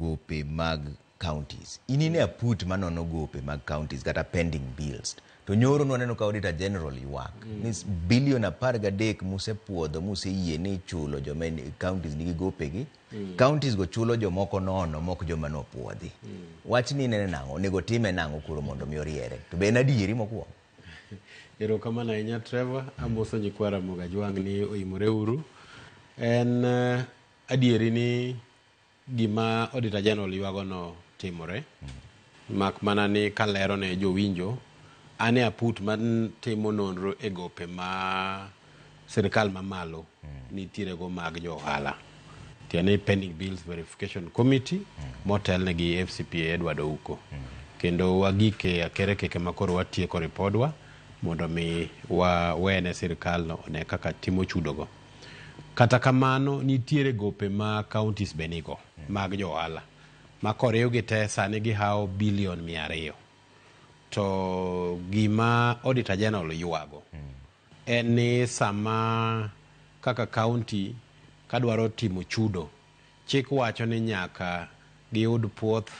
gope mag counties. In ine a put manono gope mag counties kata pending bills. To nyoro nwaneno ka Auditor General ywak mm. ni bilion apar gadek musepuodho museyie ni chulo joma counties nigi gopegi mm. counties go chulo jomoko nono mok joma nopuodhi. Mm. Wach ni nene nang'o onego time nang'o kuro mondo mi oriere. To be en adieri mokwongo. Erokamano ahinya Trevor, amoso nyikwa Ramogi Ajwang' ni oyimore uru. En uh, adieri ni gima Auditor General ywagono timore, mak mana ni kalero ne jowinjo, an e aput matimo nonro e gope ma sirkal mamalo nitiere go mag jo ohala. Tiende ni Pending Bills Verification Committee motelne gi FCPA Edward Ouko. Kendo wagik e akerekeke ma koro watieko ripodwa mondo mi wawene sirkalno one kaka timo chudogo. Kata kamano nitiere gope ma counties be nigo mag jo ohala ma koriwgi te sani gihawo bilion mia ariyo. To gima Auditor General ywago en ni sama kaka county kadwaro timo chudo, chik wacho ni nyaka giyud puoth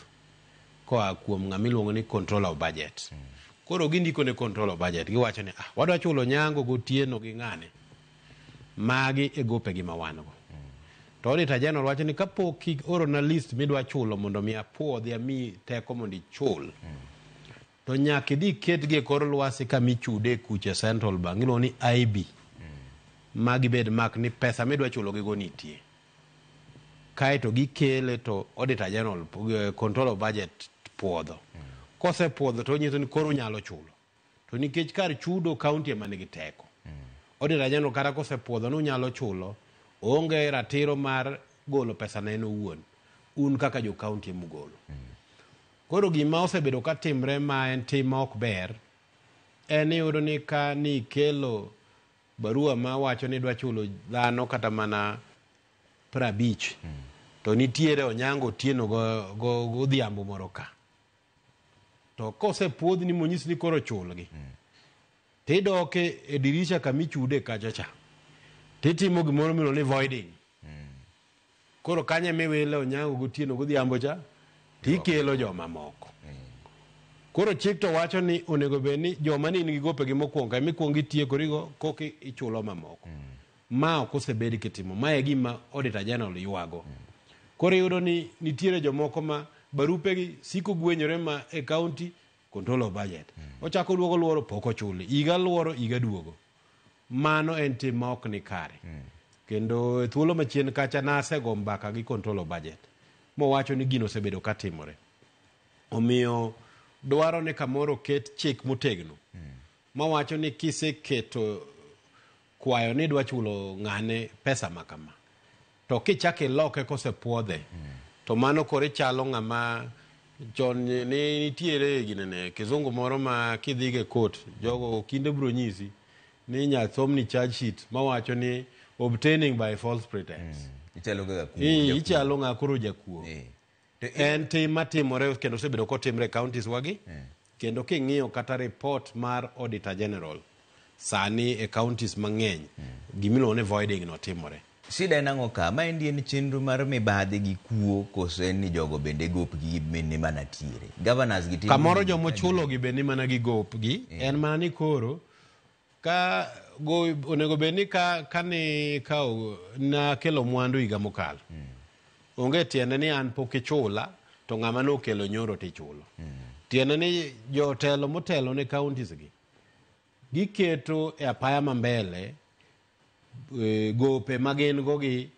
koa kuom ng'ama iluongo ni Controller of Budget. Koro gindiko ne Controller of Budget giwacho ni ah, wadwa chulo nyango gotieno gi ng'ane? Magi e gopegi ma wan go. To Auditor General wacho ni kapok iorona list midwa chulo mondo mi apwodhi ami teko mondo ichul, to nyaka idhi iketgi e kor lwasi kama ichude e kucha e Central Bank, iluongo ni IB. Ma gibed mark ni pesa midwa chulogigo nitie. Kaeto gikele to Auditor General, eh, Control of Budget pwodho. Kosepwodho to onyiso ni koro unyalo chulo. To nikech kar chudo kaunti ema nigi teko, Auditor General kata kosepwodho ni unyalo chulo, oonge ratiro mar golo pesano en owuon. Un kaka jo kaunti ema ugolo. Koro gima osebedo ka timre ma en tim ma ok ber, en ni iyudo ni ka ni ikelo barua ma wacho ni idwa chulo dhano kata mana prabich, to nitiere Onyango Otieno go- go- godhiambo moro ka. to kosepuodhni monyis ni koro chulgi tidoke e dirisha kama ichude kacha cha titimo gimoro miluongo ni voiding koro kanyo ema iwile onyango gotieno godhiambo cha tikelo jomamoko koro chik to wacho ni onego bed ni joma ne in gi gopegi mokwongo ema ikwongo itiekorigo koka ichulo mamoko Ma ok osebed kitimo. Ma e gima Auditor General ywago. Koro iyudo ni nitiere jomoko ma barupegi siko gwenyore ma e county control of budget. Ochako oduogo luoro pok ochuli. Higa luoro higa duogo. Mano en tim ma ok ni kare. Kendo e thuolo machien kacha nasego mbaka gi control of budget mowacho ni gino osebedo ka timore. Omiyo dwaro ni kamoro oket chik motegno mawacho ni kiseketo kwayo ni idwa chulo ng'ane pesa ma kama to kichako iloke kosepwodhe to mano koro ichalo ng'ama chon ni- ni nitiere ginene kizungu moro ma kidhigo e kot jogo kinde biro nyisi ni inya somni charge sheet mawacho ni obtaining by false pretense Ichalo kaka kuo. Ii, ichalo ng'a koro jakuo Eh. En tim matimore kendo osebedo kotimre e counties wagi kendo king'iyo kata report mar Auditor General sani e counties mang'eny gimiluongo ni voiding no timore. Shida en ang'o ka? Maendi en chenro mar mibadhi gi kuo koso en ni jogo bende gopgi gi min ni mana tiere? Governors gi timo Kamoro nini? jomochulogi be ni mana gi gopgi en mana ni koro Ka go onego bed ni ka kani ka o- nakelo mwandu higa mokalo. Onge tiende ni an pok ichula to ng'ama nokelo nyoro tichulo. Tiende ni jotelo motelo ne counties gi giketo e apaya ma mbele eh, gope ma gin go gi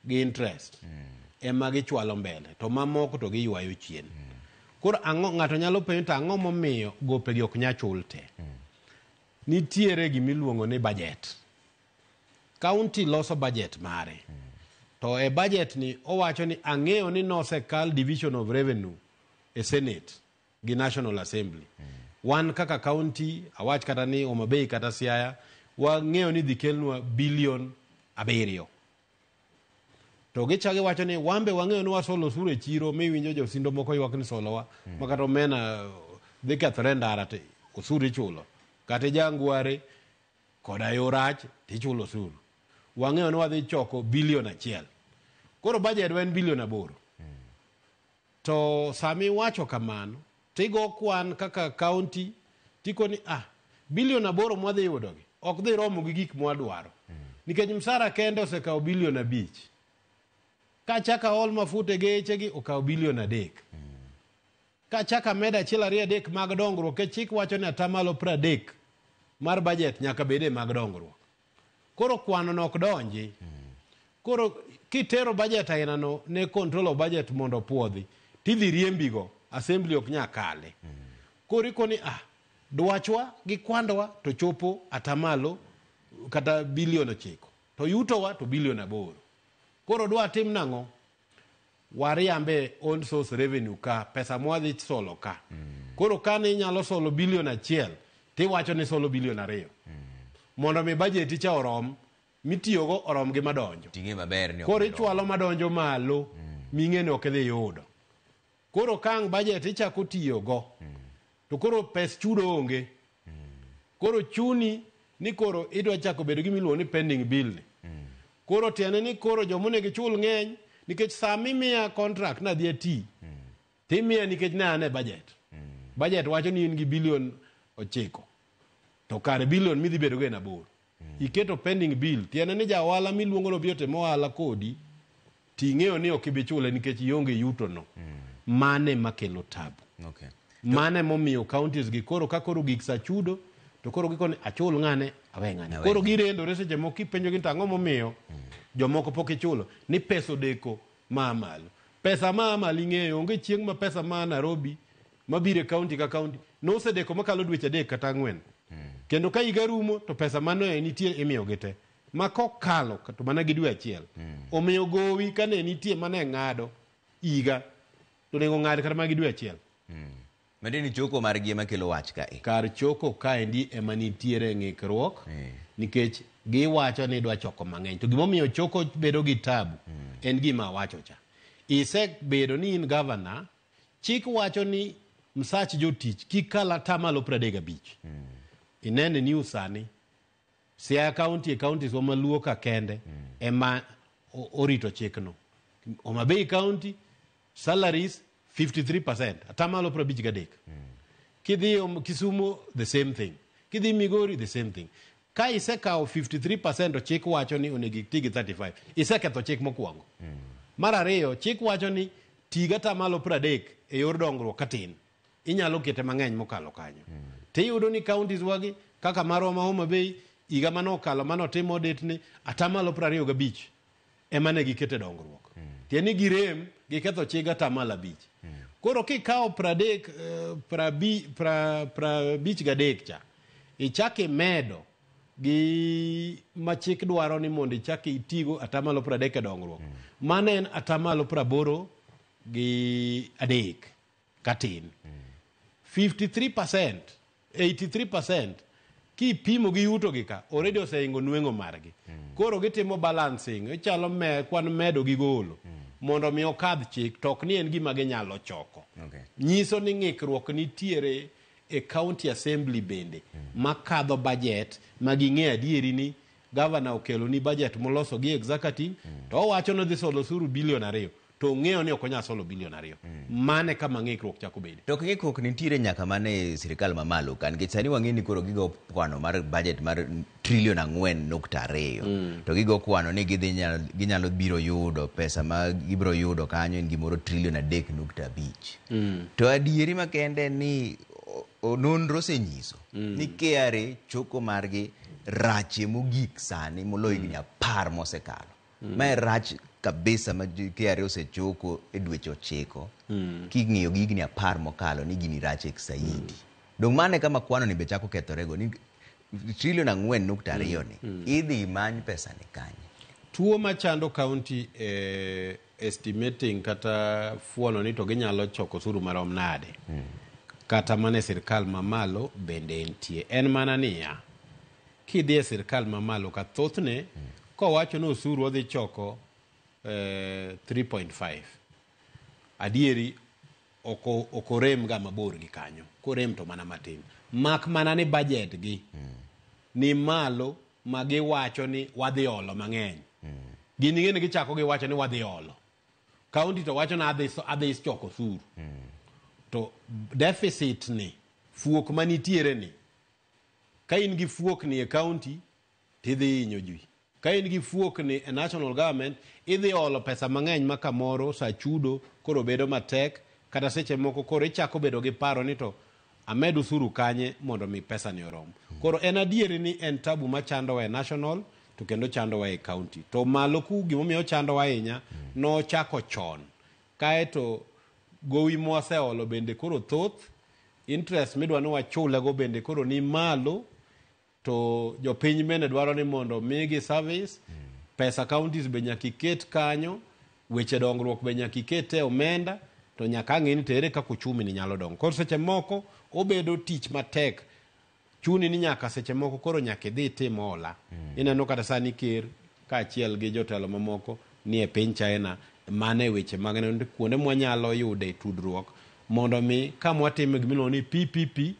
gi interest ema gichwalo mbele to mamoko to giywayo chien koro ang'o ng'ato nyalo penjo to ang'o momiyo gopegi ok nya chul te nitiere gimiluongo ni budget kaunti loso budget mare to e budget ni owacho ni ang'eyo ni nosekal division of revenue e senate gi National Assembly. Wan kaka county, awach kata ni Homa Bay kata Siaya, wang'eyo ni dhi kelnwa bilion abiriyo. To gichagi wacho ni wambe wang'eyo ni wasolo osuru e chiro miwinjo josindo moko ywak ni solowa mm. ma kata omena dhi kethore ndara to osuru ichulo kata jangware koda yo rach to ichulo osuru wang'eyo ni wadhi choko bilion achiel koro bajedwa en bilion aboro mm. To sama iwacho kamano, to igo kwan kaka kaunti, tiko ni ah, bilion aboro mwadhi yudogi ok dhi romo gi gik mwadwaro. Nikech msara kende osekawo bilion abich. Ka achaka aol mafuta e gechegi okawo bilion adek. Ka achaka amedo achiel ariyo adek mag dongruok, nikech chik wacho ni atamalo pradek mar bajet nyaka bede mag dongruok. Koro kwano no ok donji. Koro kitero budget aina no ne control of budget mondo puodhi tidhi riembi go assembly ok nya kale. Koro ikoni ah dwachwa gi kwandwa to chopo atamalo kata bilion ochiko to yutowa to bilion aboro. Koro dwa tim nang'o? wariambe own source revenue ka pesa mwadhi solo ka koro kane inyalo solo bilion achiel tiwacho ni solo bilion ariyo mondo mi bajeti cha orom mitiyogo orom gi madonjo ting'e maber ni ok koro iromo. ichwalo madonjo malo ming'e ni ok idhi yudo Koro ka ang' budget ichako tiyo go to koro pes chudo onge. Koro chuni ni koro idwa chako bedo gima iluongo ni pending bill ni. Koro tiende ni koro joma onego ichul ng'eny nikech saa mimiya contract ni adhi ati to imiya nikech ne an e budget. Budget wacho ni in gi billion ochiko to kare billion midhi bedo go en aboro. Iketo pending bill tiende ni ja ohala miluongo ni obi otim ohala kodi to ing'eyo ni ok ibi chule nikech ionge yuto no. Mano ema kelo tabu. Okay. Mano ema omiyo counties gi koro ka koro gik sa chudo to koro gikoni achul ng'ane awe ng'ane. Awe Koro ng'ane. girendore seche moko kipenjogi ni to ang'o momiyo jomoko pok ichulo ni pesa odeko ma a malo. Pesa ma a malo ing'eyo onge chieng' ma pesa ma a Nairobi mabiro e kaunti ka kaunti nosedeko makalo dweche adek kata ang'wen kendo ka higa rumo to pesa mane nitie imiyogi te ma kokalo to mana gi dwe achiel omiyo gowi kane nitie mane ng'ado higa to onego ong'ad kata mana gi dwe achiel Mende ni choko margi ema kelo wach ka e. kar choko kaendi ema nitiere ng'ikruok nikech giwacho ni idwa choko mang'eny to gimomiyo choko bedo gi tabu en gima awacho cha isebedo ni in gavana Chik wacho ni msach jotich kik kal atamalo piero adek gabich. Mm. Inene ni usani Siaya County e counties wa maluo ka kende mm. ema orito chikno. Homa Bay County salaries 53% atamalo piero abich gadek. Mm. Kidhi Kisumu the same thing. Kidhi Migori the same thing. Ka isekawo 53% to chik wacho ni onego iti gi 35. Iseketho chik mokwongo. Mar ariyo, chik wacho ni ti gata malo 30 e yor dongruok ka tin. Inyalo kete mang'eny mokalo kanyo. Tiyudo ni counties wagi kaka marwa ma Homa Bay higa mane okalo mane otim audit ni atamalo 25 ema ne gikete dongruok tiende ni girem giketho chik atamalo abich koro kikawo pradek eh, prabi- pra- prabich gadek cha ichak imedo gi ma chik dwaro ni mondo ichak itigo atamalo pradek e dongruok mano en atamalo praboro gi adek katin. 53%, 83% kipimo gi yuto gi ka already oseingo nweng'o margi. Koro gitimo balancing, ichalo me kwan medo gi golo mondo mi okadh chik to ok ni en gima ginyalo choko. Okay. Nyiso ni ng'ikruok nitiere e county assembly bende makadho budget ma ging'e adieri ni gavana okelo ni budget moloso gi executive to owacho ni odhi solo osuru bilion ariyo to ong'eyo ni ok onyal solo bilion ariyo mane kama ng'ikruok chako bede To ng'ikruok nitiere nyaka mana e sirkal mamalo ka nikech sani wang'e ni koro gigo kwano mar budget mar trilion ang'wen nukta ariyo to gigo kwano ni gidhi nyalo, ginyalo biro yudo pesa ma gibiro yudo kanyo en gimoro trilion adek nukta abich to adieri makende en ni o- o- nonro osenyiso ni KRA choko margi rache mogik sani moloyo higni apar mosekalo mm. mae rach kabisa ma KRA osechoko e dweche ochiko mm. king'iyo gi higni apar mokalo ni gini rach ek saidi mm. dong' mane kama kwano ni be chako kethorego ni trilion ang'wen nukta ariyo ni mm. mm. idhi imany pesa ni kanye tuo machando kaunti e eh, estimating kata fuono ni to ginyalo choko suru marom nade mm. kata mana e sirkal mamalo bende entie en mana niya Kidhi e sirkal ma malo ka thothne kowacho ni osuru odhi choko eh, 3.5 adieri oko okorem ga mabor gi kanyo korem to mana matin mak mana ni budget gi ni malo ma giwacho ni wadhi olo mang'eny gin ing'e ni gichako giwacho ni wadhi olo kaunti to wacho ni adhi so- adhi choko osuru to deficit ni fuok manitiere ni Ka in gi fuokni e county to idhi hinyo ji. Ka in gi fuokni e national government idhi olo pesa mang'eny ma kamoro sa chudo koro bedo matek kata seche moko koro ichako bedo gi paro ni to amed usuru kanye mondo mi pesani orom. Koro en adieri ni en tabu machandowa e national to kendo ochandowa e county. To malo ku gimomiyo ochandowa ahinya nochako chon kaeto gowi mwaseolo bende koro thoth Interest midwa ni wachule go bende koro ni malo to jopiny bende dwaro ni mondo migi service mm. pesa counties be nyaka iket kanyo weche dongruok be nyaka iket e omenda to nyaka ang'e ni tere kaka uchumi ni nyalo dongo koro seche moko obedo tich matek Chuni ni nyaka seche moko koro nyaka idhi itim hola. Mm. Ineno kata sani ker kaachiel gi jotelo mamoko ni e piny China mano e weche mag neno ni kuonde mwanyalo yude tudruok mondo mi ka mwatimo gimiluongo ni PPP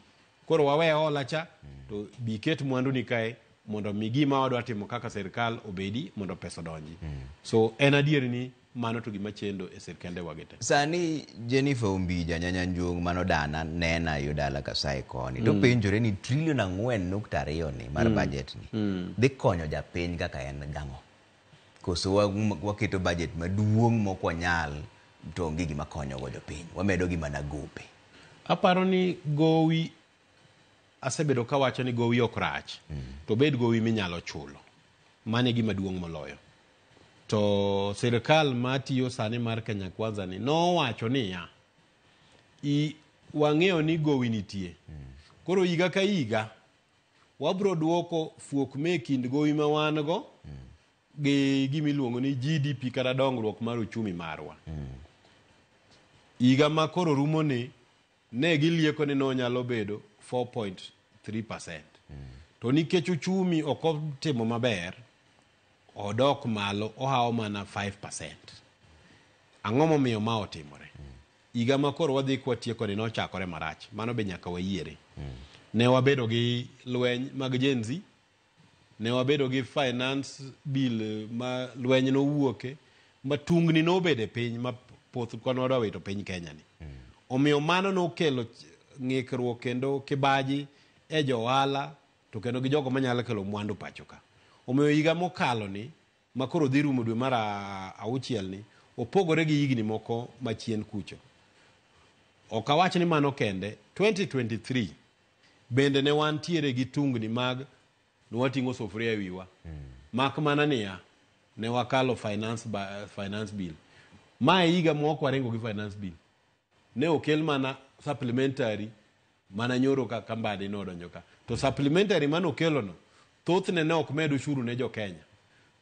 koro wawe hola cha mm. to biket mwandu ni kae mondo mi gima wadwa timo kaka serikal obedi mondo pesa odonji. Mm. So en adier ni Mano to gima chendo e sirkende wage te. Sani Jennifer Ombija Nyanyanjuong mano dana nena yo dala Kasae koni to penjore ni trilion ang'wen nukta ariyo ni mar budget ni dhi konyo japiny kaka en gang'o? Koso wa- waketo budget maduong' mok wanyal to onge gima konyogo jopiny. Wamedo gi mana gope. Aparo ni gowi asebedo kawacho ni gowi ok rach to bed gowi minyalo chulo. Mano e gima duong' moloyo. To sirkal matiyo sani mar Kenya Kwanza ni nowacho niya, i wang'eyo ni gowi nitie. Koro higa ka higa wabro duoko fuok me kind gowi ma wan go gi gima iluongo ni GDP kata dongruok mar uchumi marwa. Higa ma koro rumo ni ne gilieko ni nonyalo bedo 4.3 percent to nikech uchumi ok otimo maber odok malo ohawo mana 5 percent ang'o momiyo ma otimore higa ma koro wadhi kwatieko ni nochakore marach mano be nyaka wayiere ne wabedo gi lweny mag jenzi Ne wabedo gi finance bill ma lweny nowuoke ma tungni nobede piny ma poth kwan wadwa wito piny Kenya ni. Omiyo mano nokelo ng'ikruok kendo kibaji e jo ohala to kendo gi jogo manyalo kelo mwandu pacho ka. Omiyo higa mokalo ni ma koro dhi rumo dwe mar auchiel ni opogore gi higni moko machien kucho. Ok awach ni mano kende, 2023 Bende ne wantiere gi tungni mag nwating'o sufria e wiwa. Mak mana niya, ne wakalo finance, ba- finance bill. Ma e higa mok waringo gi finance bill. Ne okel mana supplementary mana nyoro ka kambadi nodonjo ka. To supplementary mane okelono, thothne ne ok med ushuru ne jo Kenya.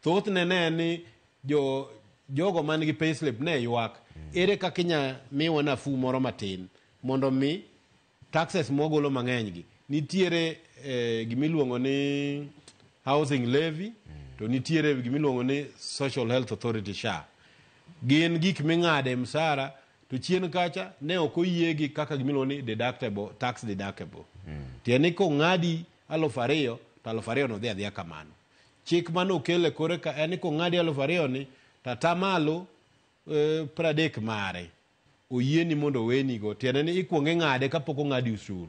Thothne ne en ni jo, jogo man gi payslip ne ywak. Ere kaka inya miwa nafuu moro matin mondo mi Taxes mwagolo mang'eny gi. Nitiere eh, gimiluongo ni housing levy to nitiere gimiluongo ni social health authority SHA. Gin gik ming'ade msara to chien kacha ne ok oyiegi kaka gimiluongo ni deductible, tax deductible. Tiende ni kong'adi aluf ariyo to aluf ariyo no dhi adhiya kamano. Chik mane okel e kore ka en ni kong'adi aluf ariyo ni to atamalo eh, pradek mare. oyieni mondo owenigo, tiende ni ikwongo ing'ade kapok ong'adi osuru.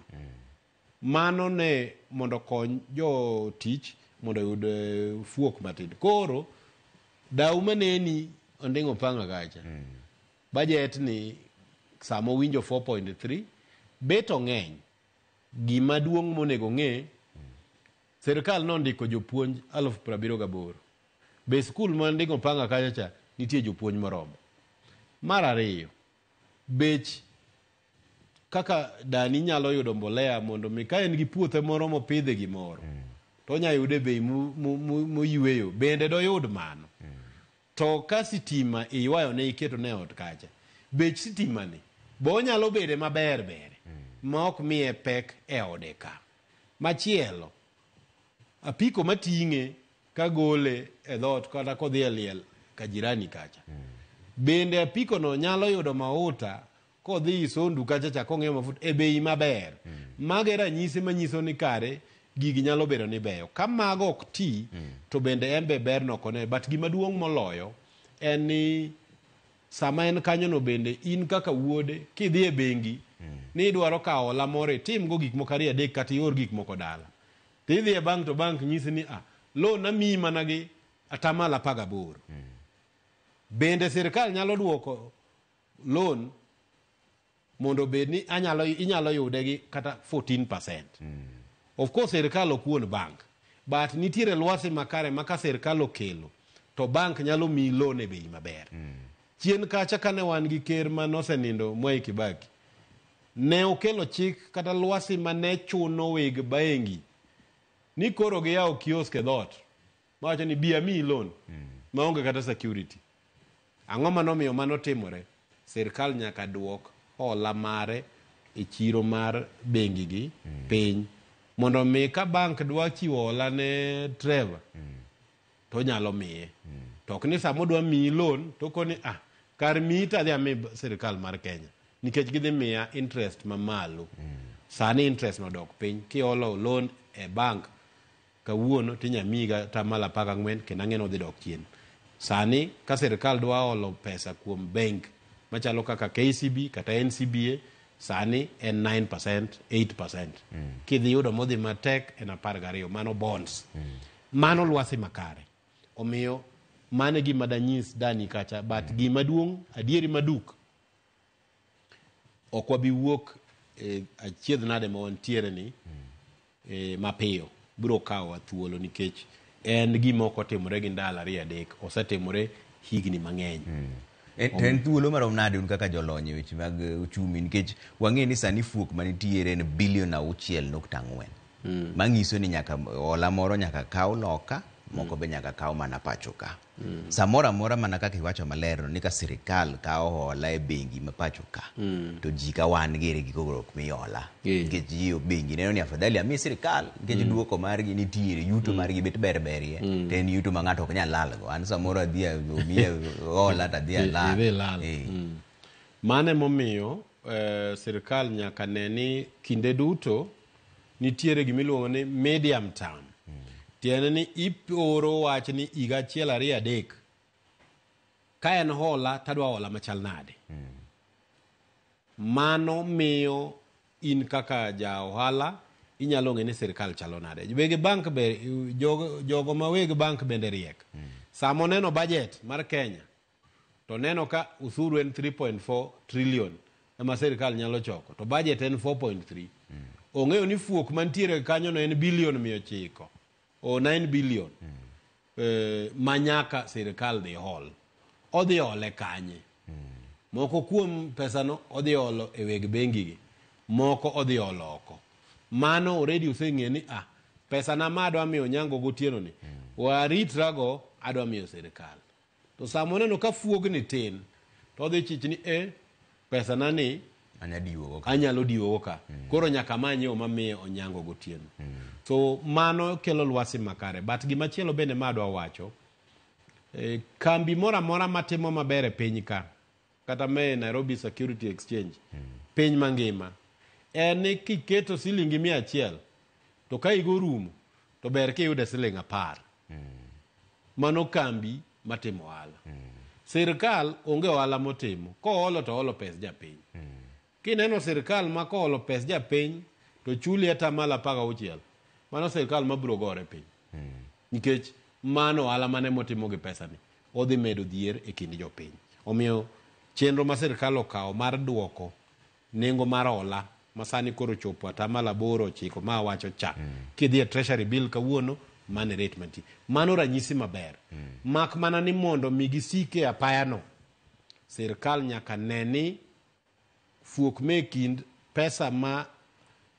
Mano ne mondo okony jotich mondo oyud eh, fuok matin. Koro dau maneni onding'o panga kacha bajet ni sama owinjo 4.3 bet ong'eny gima duong' monego ng'e Sirkal nondiko jopuonj alufu piero abiriyo gaboro. Be e skul ma nding'o panga kacha cha nitie jopuonj moromo? Mar ariyo, bech kaka dani nyalo yudo mbolea mondo mi ka en gi puothe moro mopidhe gimoro mm. to onya yude bei moyweyo bende doyud mano mm. to ka sitima iywayo ne iketo ne ot kacha bech sitimani be onyalo bede maber bere mm. ma ok miye pek e ode ka Machielo, apiko mating'e kagole e dhoot kata kodhi e liel ka jirani kacha. Bende apikono nyalo yudo mauta kodhi Isondu kacha cha kong'iewo mafuta e bei maber. Mago e ranyisi manyiso ni kare gigi nyalo bedo ni beyo. Ka mago ok ti, to bende en be berno ok one. But gimaduong' moloyo en ni Sama en kanyono bende, in kaka wuode, kidhi e bengi ni idwaro kawo hola moro, itimgo gik moko ariyo adek kata ior gik moko dala. To idhi e bank to bank nyisi ni ah, loan amiyi mana gi atamalo apar gaboro. Bende sirkal nyalo duoko loan mondo obed ni anyalo inyalo yude gi kata 14%. Of course sirkal ok wuon bank but nitiere lwasi makare ma ka sirkal okelo to bank nyalo miyi loan e bei maber. Chien kacha kane wan gi ker ma nosenindo Mwai Kibaki ne okelo chik kata lwasi ma ne chuno weg bengi ni koro giyawo kiosk e dhoot. Mawacho ni bi amiyi loan maonge kata security. Ang'o ma nomiyo mano timore? Sirkal nyaka duok hola mare e chiro mar bengigi piny mondo mi ka bank dwa chiwo hola ne Trevor to onyalo miye. To ok ni sama odwa miyi loan to okoni ah kar miyi to adhi ami sirkal mar Kenya nikech gidhi miya interest mamalo. Sani interest no odok piny kiholo loan e bank Kawuono to inya miyiga atamalo apar gang'wen kendo ang'e ni odhi dok chien. Sani ka sirkal dwa olo pesa kuom benk machalo kaka KCB kata NCBA sani en 9%, 8%. Kidhi yudo modhi matek en apar gariyo, mano bonds. Mano lwasi makare. Omiyo mano e gima danyis dani kacha but gima duong' adieri maduk ok wabi wuok e achiedh nade ma wantiere ni e, mapiyo biro kawowa thuolo nikech en gima ok otimore gi ndalo ariyo adek osetimore higni mang'eny hmm. e, to en thuolo marom nade un kaka jolony e weche mag e, uchumi nikech wang'e ni sani fuok manitiere en bilion auchiel nukta ang'wen hmm. mang'iso ni nyaka ola moro nyaka kaw loka moko hmm. be nyaka kaw mana pacho ka Mm. Samoro amora mana kaka iwacho maler ni ka sirikal kawo hola e bengi ma pacho ka mm. to ji ka wan gere gi kogruok mi hola yeah. nikech ji bengi neno ni afadhali ami sirikal nikech mm. duoko margi nitiere yuto mm. margi bet ber berie mm. to en yuto ma ng'ato ok nyal lalgo an samoro adhi omiye hola to adhi alal eh. mm. mano emomiyo eh, sirikal nyaka ne ni kinde duto nitiere gima iluongo ni medium term tiende ni iporo wach ni higa achiel ariyo adek ka en hola tadwa hola machal nade mano miyo in kaka ja ohala inyalo ng'e ni sirkal chalo nade weg bank be jogo, jogo ma weg bank bende riek sama oneno budget mar kenya To neno ka usuru en 3.4 trillion ema sirkal nyalo choko to budget en 4.3. Mm. Ong'eyo ni fuok mantiere kanyo no en billion 900 o 9 billion mm. eh, manyaka sirkal dhi hol. Odhi ole kanye? Mm. Moko kuom pesano odhi olo e weg bengi gi. Moko odhi olo oko. Mano already useng'e ni ah pesa na ma adwa miyo nyango gotieno ni mm. waritrago adwa miyo sirkal. To sama oneno ka fuogni tin, to odhi chich ni e pesana ni anyalo diwogo ka mm. koro nyaka manye yo mamiye onyango gotieno mm. so mano kelo lwasi makare but gimachielo bende ma adwa wacho e, kambi moro amora matimo maber e piny ka kata me Nairobi Security Exchange piny mangima en ni kiketo silingi mia achiel to ka higa orumo to ber kiyude siling apar mano kambi matimo ohala sirkal onge ohala motimo koholo to oholo pes japiny Kineno sirkal ma koolo pes japiny to chuli atamalo apar gauchiel, mano sirkal mabiro gore piny. Hmm. Nikech mano ohala mane motimo gi pesani odhi medo dhier e kind jopiny. Omiyo chenro ma sirkal okawo mar duoko nengo mar hola ma sani koro chopo atamalo aboro ochiko ma awacho cha mm. kidhi e treasury bill kawuono mane rate mantie mano ranyisi maber mm. mak mana ni mondo mi gisike apayano sirkal nyaka ne ni fuok me kind pesa ma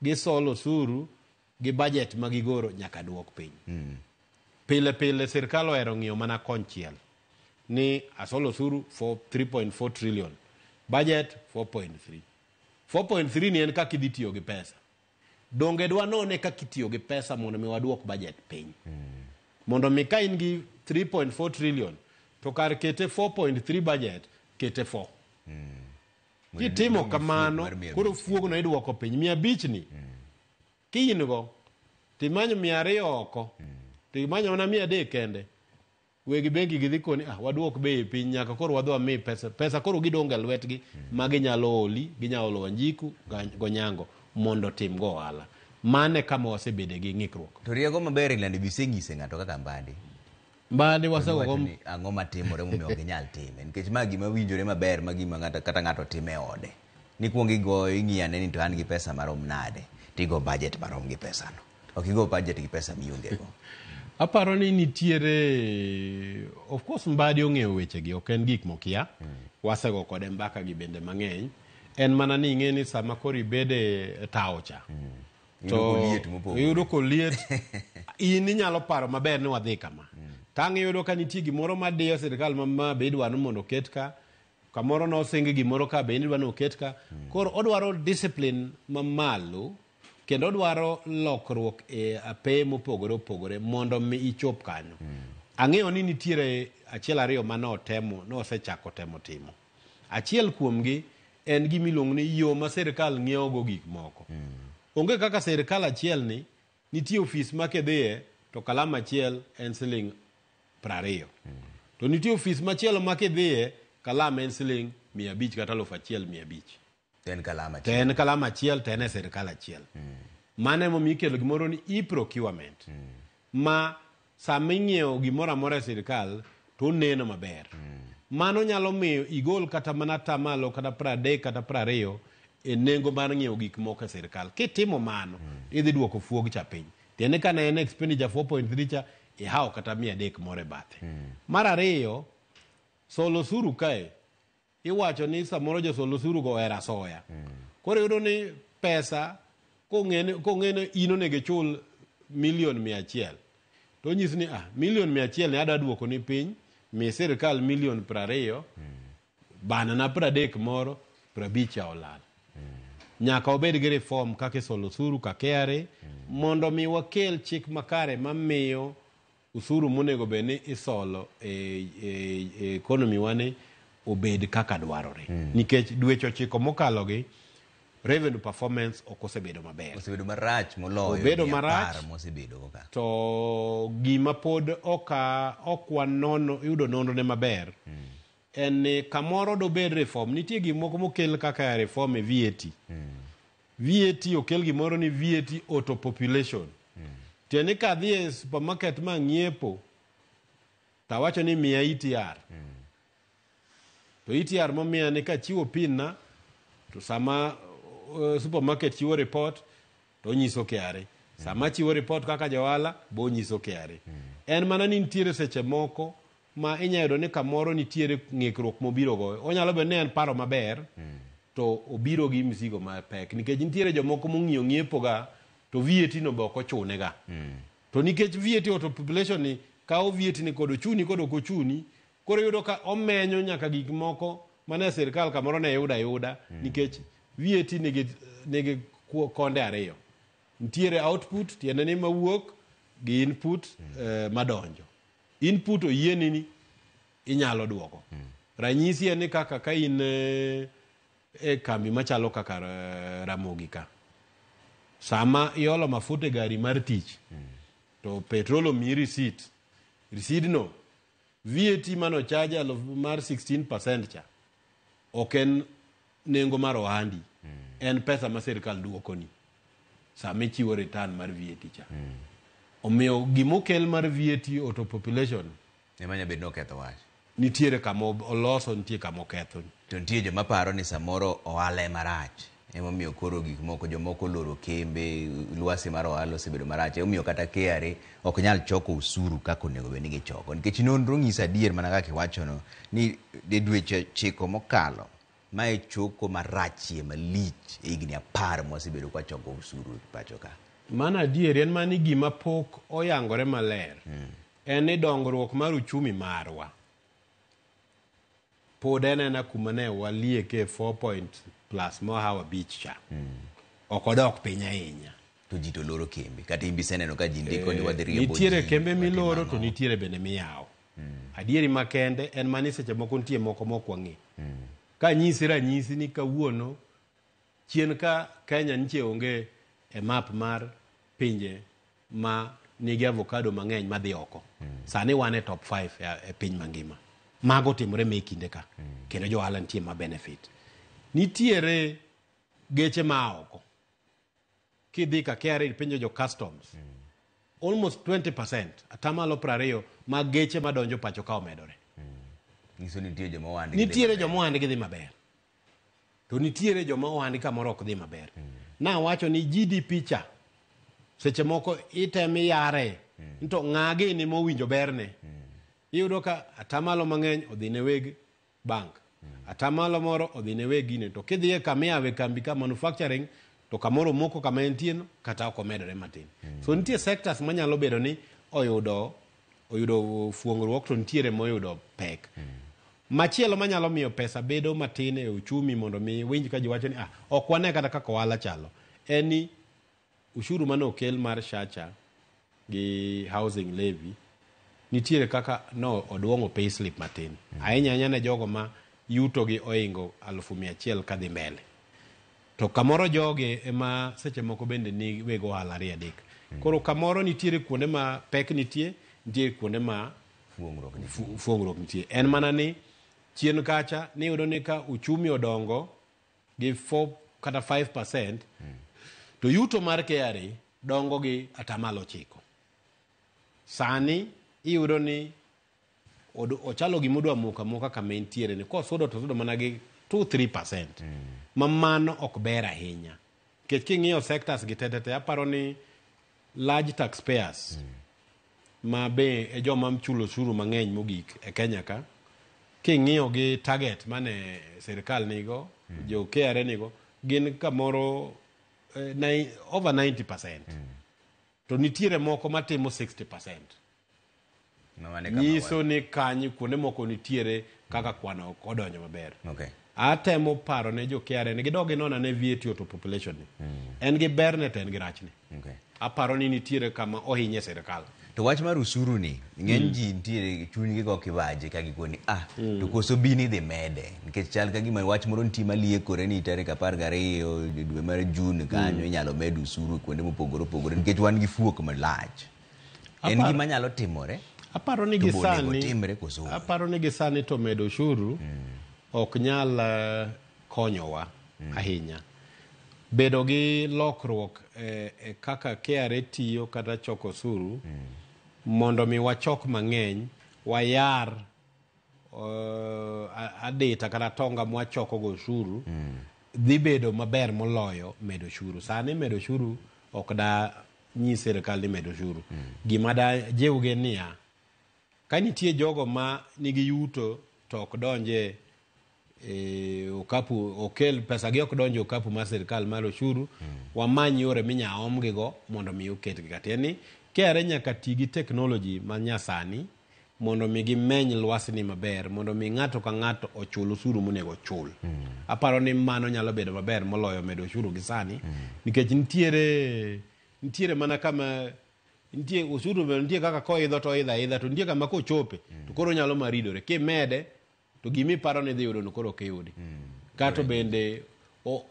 gisolo osuru gi budget ma gigoro nyaka duok piny. Mm. Pile pile sirkal ohero ng'iyo mana konchiel ni asolo osuru for 3.4 trillion, budget 4.3. 4.3 ni en kaka idhi tiyo gi pesa. Donge dwanone kaka itiyo gi pesa mondo mi waduok budget piny. Mondo mi ka in gi 3.4 trillion to kar kete 4.3 budget kete 4. Kitimo kamano koro fuogno iduoko piny. Mia abich ni kiin go timanyo mia ariyo oko timanyo mana mia adek kende Weg bengi gidhi koni ah waduok bei e piny nyaka koro wadhi wami pesa pesa koro gidonge e lwetgi ma ginyalo holi ginyalo holo Wanjiku ga- gonyango mondo otim go ohala mano e kama wasebede gi ng'ikruok To rieko maber e lando biseng'ise ng'ato kaka mbadi. mbadi wasegogo Wacho ni Ang'o matimore momiyo ok inyal time? Nikech ma gima winjore maber ma gima ng'ato kata ng'ato timo e ode. Nikwong igoyo ing'iyane ni to an gi pesa marom nade, tigo budget marom gi pesano. Ok igo budget gi pesa miongego. Aparo ni nitiere of course Mbadi ong'eyo wechegi ok en gik mokia. Wasego kode mbaka gi bende mang'eny. En mana ni ing'e ni sama koro ibede e tawo cha. Iyudo koliet mopogore. Iyudo koliet. In inyalo paro maber ni wadhi kama. Tang' iyudo ka nitie gimoro madiyo sirkal ma ma be idwa ni mondo oket ka. kamoro nosingi gimoro ka be in idwa ni oket ka koro odwaro discipline mamalo kendo odwaro lokruok e ape mopogore opogore mondo mi ichop kanyo ang'eyo ni nitiere achiel ariyo ma notemo nosechako temo timo achiel kuomgi en gima iluongo ni yo ma sirkal ng'iewogo gik moko onge kaka sirkal achielni Nitie ofis ma kidhiye to kalam achiel en siling' prariyo. To nitie ofis machielo ma kidhiye kalam en siling' mia abich kata aluf achiel mia abich. To en kalam To achiel. en kalam achiel to en e sirkal achiel. Mano emomiyo ikelo gimoro ni e-procurement ma Sama inyiewo gimoro amora e sirkal to oneno maber. Mano nyalo miyo igol kata mana atamalo kata pradek kata prariyo e nengo mar ng'iewo gik moko e sirkal. Kitimo mano, idhi duoko fuog cha piny. Tiende ka ne en expenditure 4.3 cha, ihawo kata mia adek moro e bathe. Mar ariyo, solo osuru kae Iwacho ni samoro josol osuru go ohero asoya. Koro iyudo ni pesa kong'ene kong'ene in onego ichul milion mia achiel. To onyisi ni ah milion mia achiel ni adwa duoko ni piny, mi sirkal milion prariyo, banana pradek moro, prabich cha olal. Nyaka wabed gi reform kaka isolo osuru ka KRA mondo mi wakel chik makare mamiyo Usuru monego bed ni isolo e, e, e economy wani obed kaka dwarore mm. nikech dweche ochiko mokalo gi revenue performance ok osebedo maber, osebedo marach moloyo, obedo marach mosebedo kaka to gima pod oka okwa nono yudo nonro ne maber mm. en ni kamoro dobed reform, nitie gik moko mokel kaka reform e VAT mm. VAT okel gimoro ni VAT auto population. Tiende ni kadhi e supermarket ma ng'iepo to awacho ni miya ETR. To ETR momiya ni kachiwo pin na to sama uh, supermarket chiwo report to onyiso KRA. Sama chiwo report kaka johala bo onyiso KRA. En mana ni nitiere seche moko ma inya yudo ni kamoro nitiere ng'ikruok mobiro go onyalo bedo ni en paro maber mm. to obiro gi mzigo mapek nikech nitiere jomoko mong'iyo ng'iepo ga to VAT no be ok ochune ga mm. to nikech VAT auto population ni kawo VAT ni kod ochuni kod ok ochuni koro yudo ka omenyo nyaka gik moko mane sirkal kamoro ne yuda yuda mm. nikech VAT nigi nigi konde ariyo nitiere output tiende ni mawuok gi input mm. eh, madonjo Input oyieni ni inyalo duoko. Mm. Ranyisi en ni kaka ka in eh, e kambi machalo kaka eh, Ramogi ka. Sama iolo mafuta e gari mar tich mm. to petrol omiyi receipt. Receipt no VAT mano chaja mar 16% cha ok en nengo mar ohandi mm. en pesa ma sirkal duokoni sama ichiwo return mar VAT cha mm. omiyo gima okel mar VAT auto population ema nyalo bedo ni oketho wach nitiere kama oloso nitie kama oketho to nitie joma paro ni samoro ohala ema rach Emomiyo koro gik moko jomoko oloro kembe, lwasi mar ohala osebedo marach. Emomiyo kata KRA ok nyal choko osuru kaka onego bed ni gichoko. Nikech nonro ng'iso adier mana kaka iwachono ni e dweche ochiko mokalo, ma e choko marachie malich e higni apar mwasebedo kwa choko osuru e pacho ka. Mano adier, en mana ni gima pok oyangore maler en ni dongruok mar uchumi marwa. pod anena kuma ne walieke 4 point plus more hour beach cha ok odok piny ahinya to ji to loro kembe kata in be iseneno ka ji ndiko ni wadhi riembo nitiere ji, kembe watimo miloro ang'o. to nitiere bende miyawo adieri makende en mani seche moko nitie moko mok wang'e ka nyisi ranyisi ni kawuono chien ka kenya nitie onge e map mar pinje ma nigi avocado mang'eny madhi oko mm. sani wan e top 5 e, e piny mangima mago timore me kinde ka mm. kendo jo ohala nitie ma benefit nitiere geche ma oko kidhi ka kra penjo jo customs mm. almost 20 percent atamalo prariyo ma geche madonjo pacho ka omedore mm. nitiere joma ohandgi dhi maber to nitiere joma ohandi kamoro ok dhi maber nawacho ni gdp cha seche moko item iyare nto ng'a gini mowinjo berne iyudo ka atamalo mang'eny odhi ne weg bank atamalo moro odhi ne weg gine to kidhiye kama iyawe kambi ka manufacturing to kamoro omoko kama entieno kata ok omedore matin so nitie sectors manyalo bedo ni oyudo oyudo fuong'ruok to nitiere moyudo pek. Machielo manyalo miyo pesa bedo matin e uchumi mondo mi winj ka jiwacho ni ah, ok wane kata kaka ohala chalo en ni ushuru mane okel mar shacha gi housing levy nitiere kaka no oduong'o pay slip matin ahinya ahinya ne jogo ma yutogi oingo alufu mia achiel kadhi mbele To kamoro jogi ema seche moko bende ni weg ohala ariyo adek. Mm. Koro kamoro nitiere kuonde ma pek nitie, nitiere kuonde ma fuong'ruok nitie. Fuong'ruok nitie. En mana ni chien kacha ni yudo ni ka uchumi odongo gi 4 kata 5% mm. to yuto mar KRA dongo gi atamalo chiko. Sani iyudo ni od- ochalo gima odwa moko amoka kama entiere ni kosudo to osudo mana gi 2-3 percent ma mano ok ber ahinya nikech king'iyo sectors gi tetete aparo ni large taxpayers ma be e joma chulo osuru mang'eny mogik e kenya ka king'iyo gi target mane sirikal nigo jo kra nigo gin kamoro eh, nai- over 90 percent to nitiere moko matimo 60 percent Mamane kama nyiso ni kanyi kuonde moko nitiere kaka kwano ok odonjo maber wa- Okay. atemo paro ne jo KRA ni gidog ginona ne VAT auto population ni en gi berne to en gi rachne Okay. aparo ni nitiere kama ohinye sirikal To wach mar usuru ni ng'eny ji nitiere chunygi go kibaje ka gikoni ah to koso bin idhi mede nikech chal ka gima wach moro nitie maliekore ni tarik apar gariyo dwe mar Jun kanyo inyalo med usuru kuonde mopogore opogore nikech wan gi fuok malach. En Aparo- gima nyalo timore. aparo ni To bonego gisani otimre koso onge? aparo ni gisani to medo ushuru ok nyal eh, konyowa ahinya bedo gi lokruok eh, eh, kaka KRA tiyo kata choko osuru mondo mi wachok mang'eny wayar eh, a- adita kata tonga mwachoko go ushuru dhi bedo maber moloyo medo ushuru sani medo ushuru ok da nyi sirkal ni med ushuru. Mm. Gima da jiwgi niya, ka nitie jogo ma nigi yuto to ok donje e, okapu okel pesa gi ok donje okapu mar sirkal mar ushuru mm. wamany yore minya omgigo mondo mi oketgi katieni kere nyaka ti gi teknoloji ma nyasani mondo mi gimeny lwasni maber mondo mi ng'ato ka ng'ato ochul osuru monego ochul. Mm. Aparo ni mano nyalo bedo maber moloyo medo osuru gi sani mm. nikech nitiere nitiere mana kama nitie osuru nitie kaka koidho to idha idha to nitie kama kochope mm. to koro nyalo maridore kimede to gima iparo ni idhi yudono koro ok iyudi mm. kato bende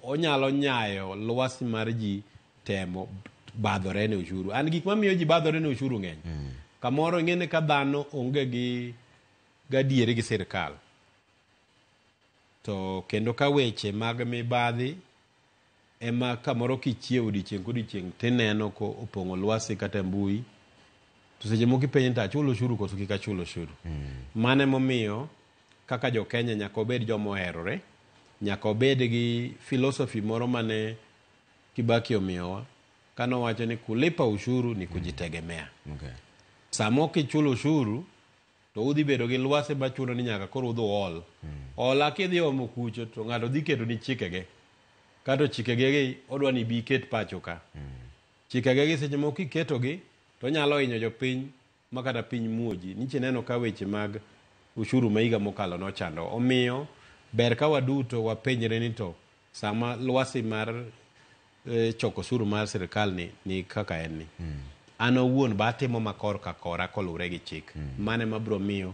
onyalo nyayo lwasi mar ji temo badhore ne ushuru an gik mamiyo ji badhore ne ushuru ng'eny mm. kamoro ing'eni ka dhano onge gi gadiere gi sirikal to kendo ka weche mag mibadhi ema kamoro kichiewo odiechieng' kodiechieng' tineno ko opong'o lwasi kata mbui to seche moko ipenjo to achulo oshuru koso kik achul oshuru mm. mano emomiyo kaka jo Kenya nyaka obed joma oherore nyaka obed gi filosofi moro mane Kibaki omiyowa kane owacho ni kulipa ushuru ni kujitegemea mm. okay. sama ok ichulo ushuru to udhi bedo gi lwasi ma chuno ni nyaka koro udhi uol. Ola kidhi omo kucho to ng'ato dhi keto ni chikege. Kato chikege gi odwa ni ibi iket pacho ka. Chikege gi seche moko kiketogi to onyalo hinyo jopiny ma kata piny muoji. Nyiche ineno ka weche mag ushuru ma higa mokalo nochando. Omiyo ber ka waduto wapenjre ni to Sama lwasi mar eh, choko osuru mar sirkal ni, ni kaka en ni mm. an awuon ba atimo makor ka kora koluwre gi chik mm. mane mabiro miyo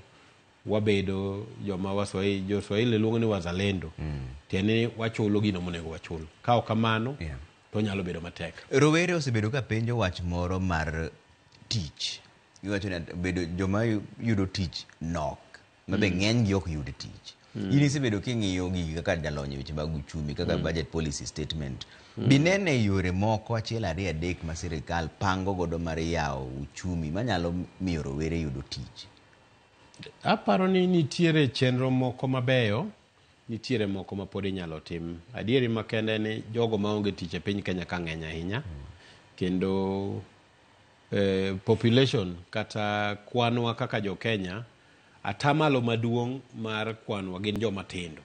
wabedo joma waswahili joswahili luongo ni wazalendo mm. tiende ni wachulo gino monego wachul ka ok kamano yeah. to nyalo bedo matek rowere osebedo ka penjo wach moro mar tich iwacho ni bedo joma yudo tich nok ma be ng'eny gi ok yud tich. In isebedo king'iyo gigi kaka jalony e weche mag uchumi kaka budget policy statement. Binene yore moko achiel ariyo adek ma sirikal pango godo mar yawo uchumi manyalo miyo rowere yudo tich. Aparo ni nitiere chenro moko mabeyo, nitiere moko ma pod inyalo tim. Adieri makende en ni jogo maonge tich e piny Kenya ka ng'eny ahinya kendo eh, population kata kwanwa kaka jo Kenya, atamalo maduong' mar kwanwa gin joma tindo.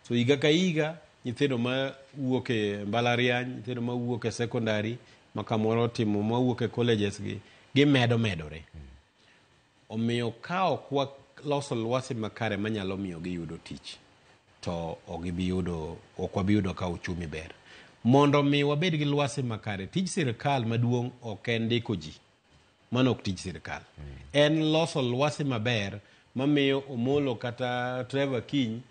So higa ka higa nyithindo ma wuok e mbalariany, nyithindo ma wuok e secondary, ma kamoro timo ma wuok e colleges gi, gimedo medore. Omiyo ka ok waloso lwasi makare manyalo miyo giyudo tich, to ok gibi yudo, ok wabi yudo ka uchumi ber. Mondo mi wabed gi lwasi makare, tij sirkal maduong' ok en ndiko ji. Mano ok tij sirkal. Mm. En loso lwasi maber mamiyo Omolo kata Trevor Kiny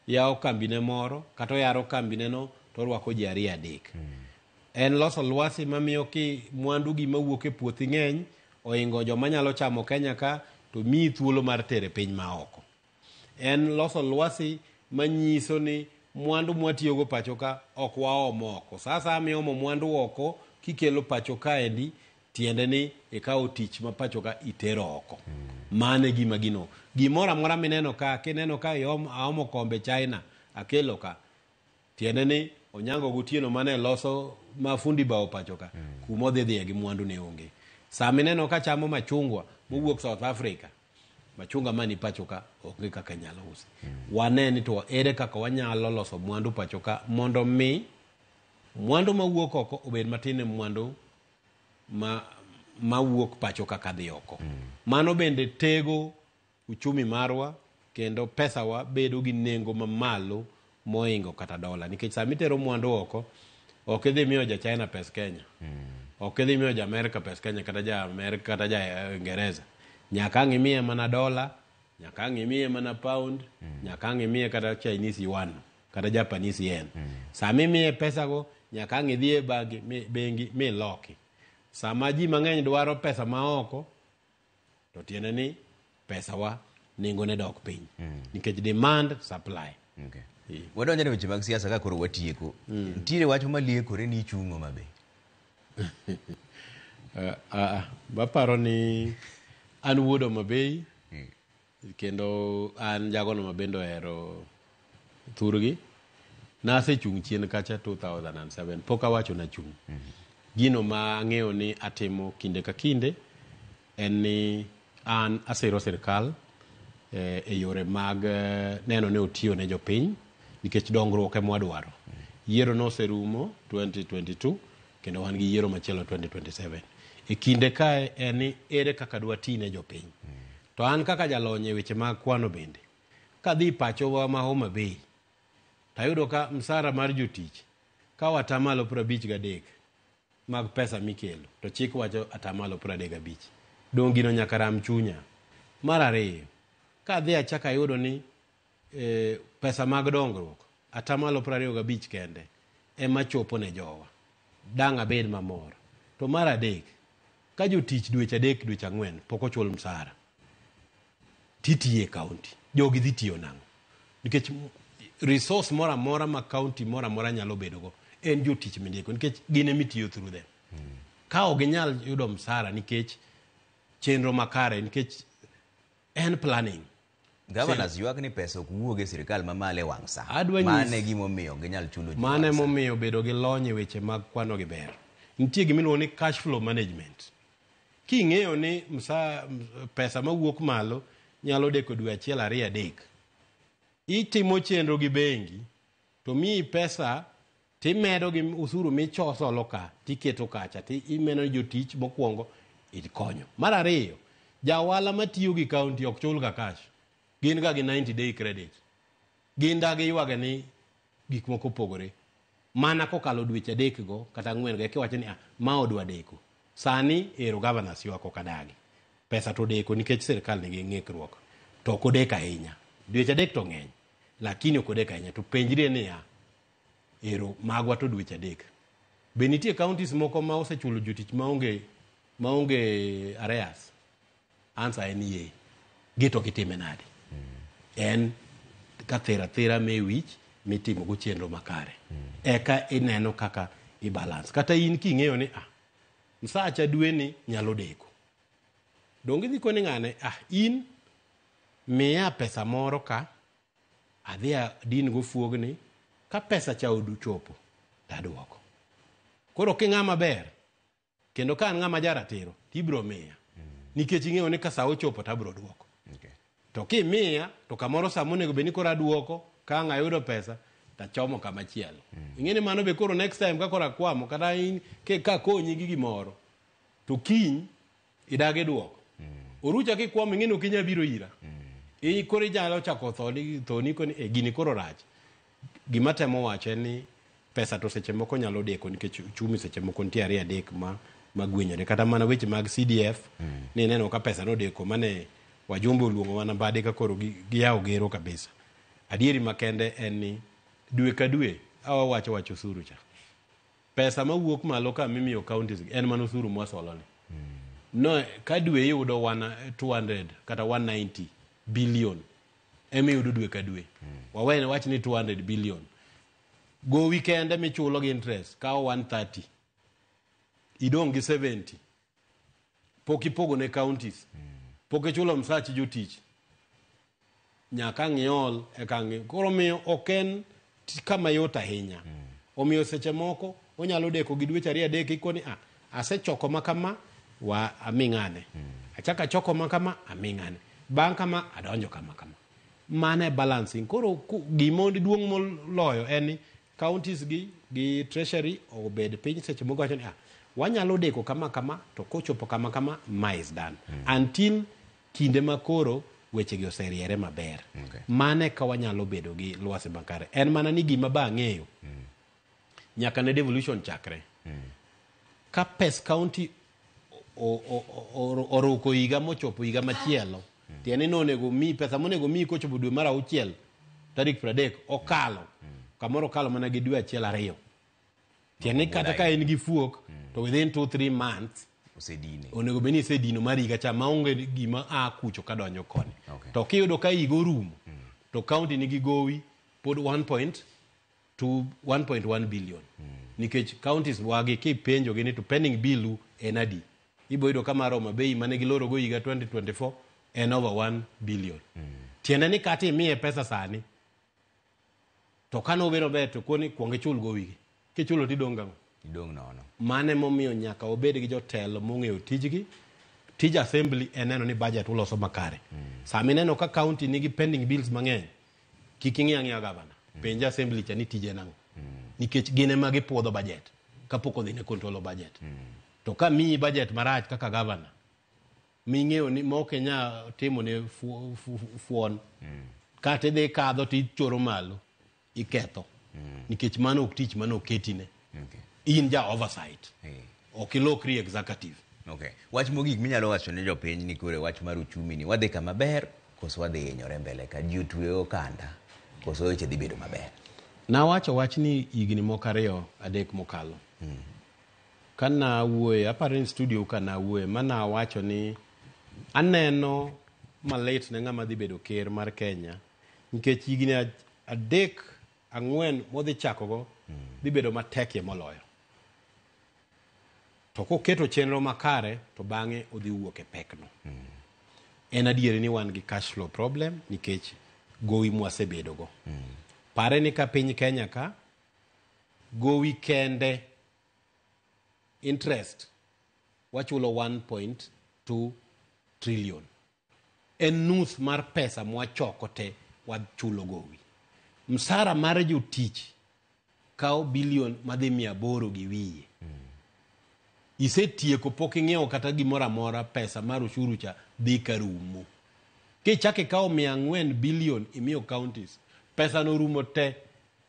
yawo kambine moro kata oyaro kambineno to orwako ji ariyo adek. Mm. En loso lwasi mamiyo ki mwandu gi mawuok e puothi ng'eny oingo joma nyalo chamo Kenya ka to miyi thuolo mar tere piny ma oko. En loso lwasi manyiso ni mwandu mwatiyogo pacho ka ok waom oko. Sa asaya miomo mwandu oko kikelo pacho kaendi tiende ni ikawo tich ma pacho ka itero oko. Mano e gima gino. Gimoro amora mineno ka, kineno ka iom, aomo kombe China akelo ka, Tiende ni Onyango gotieno mane loso ma fundi bao pacho ka mm. kuma odhi dhiye gi mwandu ne onge. Sama ineno ka chamo machungwa mowuok South Africa, machunga mani pacho ka onge kaka inyalo usi. Mm. Wane ni to ere kaka wanyalo loso mwandu pacho ka mondo mi mwandu mawuok oko obed matin e mwandu ma mawuok pacho kaka dhi oko. Mm. Mano bende tego uchumi marwa kendo pesawa bedo gi nengo mamalo moingo kata dola nikech sama itero mwandu oko ok idhi miyo ja China pes Kenya ok idhi miyo ja Amerika pes Kenya kata ja Amerika kata ja eh, Ingereza nyaka ang' imiye mana dola nyaka ang' imiye mana pound nyaka ang' imiye kata Chinese yuan kata Japanese yen sama imiye pesago nyaka ang' idhi e bagi mi- bengi miloki sama ji mang'eny dwaro pesa maoko to tiende ni pesawa nengone dok piny mm. nikech demand supply okay. yeah. wadonjone weche mag siasa ka koro watieko mm. ntiere wach maliekore ni ichung'o mabe uh, uh, baparo ni an wuod omabei Kendo an jagono ma bende ohero thurgi, nasechung' chien kacha 2007, pok awacho nachung'. Gino ma ang'eyo ni atimo kinde ka kinde en ni an asiro sirkal eh, e yore mag eh, neno ni otiyo ne jopiny nikech dongruok ema wadwaro. Yiero noserumo 2022 Kendo wan gi yiero machielo 2027. E kinde kae en ni ere kaka dwa ti ne jopiny. To an kaka jalony e weche mag kwano bende, kadhi pachowa ma Homa Bay, tayudo ka msara mar jotich kawo atamalo piero abich gadek mag pesa mikelo, to chik wacho atamalo piero adek gabich. Donge gino nyaka ram chunya? Mar ariyo, kadhi achako ayudo ni e, pesa mag dongruok atamalo piero ariyo gabich kende ema chopo ne jowa dang' abed mamor to mar adek ka jotich dweche adek dweche ang'wen pok ochul msara titiye kaunti jogi dhi tiyo nang'o nikech resource moro amora ma kaunti moro amora nyalo bedogo en jotich mindiko nikech gin emitiyo through them mm. ka ok ginyal yudo msara nikech chenro makare nikech en planning Governors ywak ni pesa ok wuog e sirkal mamalo e wang' sa. Adwa nyis- Mano e gimomiyo ok ginyal chulo ji mano wang' sa. emomiyo bedo gi lony e weche mag kwano gi ber nitie gima iluongo ni cash flow management king'eyo ni msa, m- pesa mawuok malo nyalo deko dwe achiel ariyo adek itimo chenro gi bengi to miyi pesa Timedo gi usuru michosolo ka tiketo kacha ti imeno jotich mokwongo ikonyo. Mar ariyo, jaohala matiyo gi kaunti ok chul ga cash. Gin ga gi 90 day credit. Gin da giywage ni gik moko opogore. Mana kokalo dweche adek go kata ang'wen go ekiwacho ni ah, ma odwa deko. Sani ero governors ywak ok adagi. Pesa to odeko nikech sirkal nigi ng'ikruok. To ok odeko ahinya. Dweche adek to ng'eny. Lakini ok odeko ahinya. To penjri niya, Ero, magwa to dweche adek. Be nitie counties moko ma osechulo jotich maonge maonge areas? Ansa en yee. Gito kitime nade? En ka thera thera me wich mitimo go chenro makare. Eka ineno kaka i balance. Kata in king'eyo ni ah, msacha dwe ni nyalo deko. Donge idhi koni ng'ane ah, in miya pesa moro ka adhi adin gofuogni ka pesa cha oduchopo to aduoko koro king'a maber kendo ka an ng'ama jaratiro to ibiro miya nikech ing'eyo ni ka sa ochopo to abiro duoko Okay. to kimiya to kamoro sama onego bed ni koro aduoko ka ang' ayudo pesa to achomo kama chielo ing'e ni mano be koro next time ka koro akwamo kata in- ke- ka akonyi gi gimoro to kiny Idagi duok. Orucha kikwamo ing'e ni ok inyal biro ira. I koro inyalo chako thoni thoni koni e gini koro rach. Gima temo wacho en ni pesa to seche moko nyalo deko nikech uchumi seche moko nitie ariyo adek ma magwenyore kata mana weche mag CDF ni ineno ka pesa nodeko mane wajumbe oluongo mana bade ka koro gi- giyawo gero kabisa. Adieri makende en ni dwe ka dwe awawacho wacho osuru cha. pesa mawuok malo ka mimiyo counties en mana osuru mwasoloni no ka dwe iyudo wana 200 kata 190 billion ema iyudo dwe ka dwe wawene wach ni 200 billion gowi kende michulo gi interest kawo 130 idong' gi 70 pok ipogo ne counties pok ichulo msach jotich nyaka ang' iol eka ang' i- koro miyo ok en ti- kama yot ahinya omiyo seche moko onyalo deko gi dweche ariyo adek ikoni a asechoko ma kama wa aming'ane achako achoko ma kama aming'ane bang' kama adonjo kama kama mano e balancing koro ku- gima duong' moloyo en ni counties gi gi treasury obed piny seche moko wacho ni ah, wanyalo deko kama kama to kochopo kama kama ma is done until kinde ma koro wechegi oseriere maber Okay. mano eka wanyalo bedo gi lwasi makare en mana ni gima ba ang'eyo nyaka ne devolution chakre ka pes county oruko higa mochopo higa machielo tiende ni onego mi pesa monego mi kochopo dwe mar auchiel tarik pradek okalo kamoro okalo mana gi dwe achiel ariyo tiende ni kata ka en gi fuok to within two three months osedine onego bed ni isedino mar higa cha maonge gima a kucho ka donjo koni okay. to kiyudo ka higa orumo mm. to kaunti nigi gowi pod 1 point to 1.1 billion nikech counties wagi kipenjogi ni to pending billu en adi ibo yudo ka mar Homa Bay mane gilorogo higa 2024 en over 1 billion tiende ni kata imiye pesa sani to kane obiro ber to koni kwong ichul go wigi kichulo to idong' gang'o idong' nono mane momiyo nyaka obed gi jotelo mong'eyo tijgi tij assembly en neno ni budget uloso makare sama ineno ka county nigi pending bills mang'eny Kik ing'i ang'iya gavana. Penje assembly cha ni tije en ang'o. Nikech gin ema gipuodho budget kapok odhi ne control of budget. To ka miyi budget marach kaka gavana ming'eyo ni ma ok inya timo ne fu- fu- fu- fuon kata idhi kadho to ichoro malo iketho nikech mano ok tich mane oketine. Okay. In ja oversight. Hey. Ok ilokri executive. Okay. Wach mogik minyalo wacho ne jopiny ni kore wach mar uchumi ni wadhi kama ber koso wadhi hinyore mbele ka ji otwe okanda koso weche dhi bedo maber. Nawacho wach ni higni moko ariyo adek mokalo. Hmm. Ka nawuoye, aparo ni studio ka nawuoye, ma nawacho ni aneno malit ne ng'ama dhi bedo ker mar Kenya nikech higni adek ang'wen modhi chakogo dhi bedo matekie moloyo. To koketo chenro makare to bang'e odhi wuok e pekno. En adieri ni wan gi cash flow problem nikech gowi mwasebedogo. Pare ni ka piny Kenya ka, gowi kende interest wachulo 1.2 trillion en nus mar pesa mwachoko te wachulo gowi. Msara mar jotich kawo bilion madhi mia aboro gi wiye. Isetieko pok ing'iewo kata gimoro amora pesa mar ushuru cha dhi ka rumo. Kichako ikawo mia ang'wen bilion imiyo counties, pesano rumo te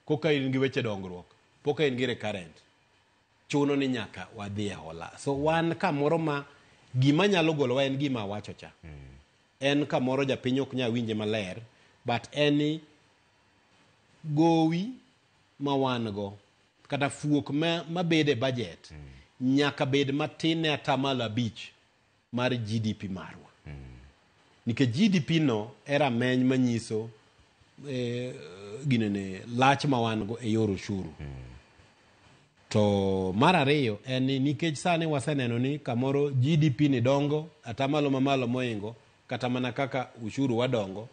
koka in gi weche dongruok, poka in gi recurrent. chuno ni nyaka wadhi e hola so wan kamoro ma gima nyalo golowa en gima awacho cha en kamoro japiny ok nyal winje maler but en ni gowi ma wan go kata fuok ma, ma bede budget nyaka bed matin ne atamalo abich mar GDP marwa. Nikech GDP no e rameny manyiso eh, ginene lach ma wan go e yor oshuru. To mar ariyo en ni nikech sani waseneno ni kamoro GDP ni dongo atamalo mamalo moingo kata mana kaka ushuru wadongo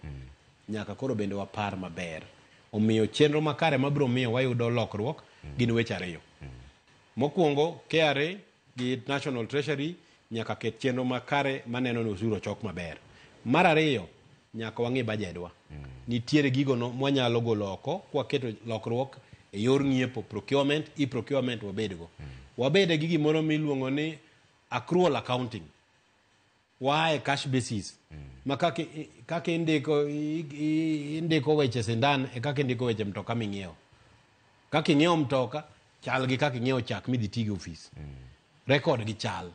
nyaka koro bende wapar maber. Omiyo chenro makare mabiro miyo wayudo lokruok gin weche ariyo. Mokwongo KRA gi National Treasury nyaka ket chenro makare maneno ni osuru ochok maber. Mar ariyo, nyaka wang'e bajedwa. Nitiere gigo no mwanyalo golo oko kwaketo lokruok e yor ng'iepo, procurement, e-procurement wabedgo. Wabede gi gimoro miluongo ni accrual accounting. Waa e cash basis. Ma kaka i- kaka indiko i- i- indiko weche sindan e kaka indiko weche mtoka ming'iewo. Kaka ing'iewo mtoka chal gi kaka ing'iewo chak midhi ti gi ofis. Rekod gi chal.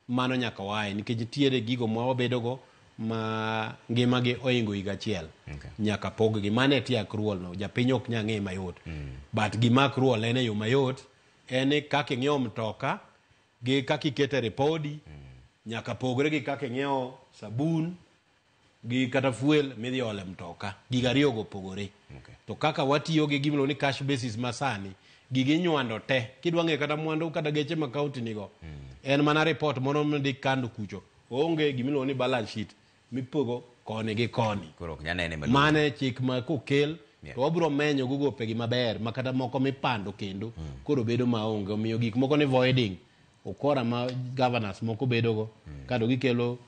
Mano nyaka waye nikech nitiere gigo ma wabedogo ma ngimagi ohingo higa achiel. Okay. Nyaka poggi. Mano e tie accrual no. Japiny ok nyal ng'e mayot. But gima accrual en e yo mayot en ni kaka ing'iewo mtoka Gi kaka iketo e ripodi, nyaka pogre gi kaka ing'iewo sabun gi kata fuel midhi ole mtoka. Gigo ariyogo opogore. Okay. To kaka watiyo gi gimiluongo ni cash basis ma sani, gigi inywando te. Kidwa ng'eyo kata mwandu kata geche ma kaonti nigo, en mana ripot moro midhi kano kucho. Oonge gimiluongo ni balance sheet. mipogo koni gi koni koro ok nyanene maduong' mane chik ma kokel Yeah. to wabiro menyo go gopegi maber ma kata moko mipando kendo koro bedo maonge omiyo gik moko ni voiding ukora ma governors moko bedogo kado gikelo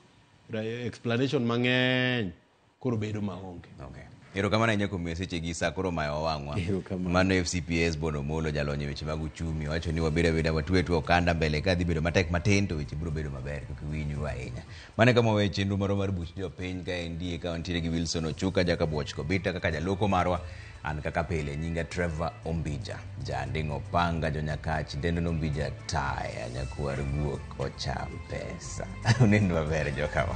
ra- explanation mang'eny koro bedo maonge okay Erokamano ahinya kuom miyo sechegi sa koro mayo wang'wa. Erokamano. Mano FCPS Bono Molo jalony e weche mag uchumi wacho ni wabiro abeda watwe twe okanda mbele ka dhi bedo matek matin to weche biro bedo maber kik winyu ahinya. Mane kama wawe chenro marwa mar buch jopiny ka endi e kawantiere gi Wilson Ochuka jaka Bwoch Kobita kaka jaloko marwa an kaka pile nyinga Trevor Ombija janding'o panga jonyakach dendo nombija taya nyakwar guok ocham pesa. Unend maber jokama.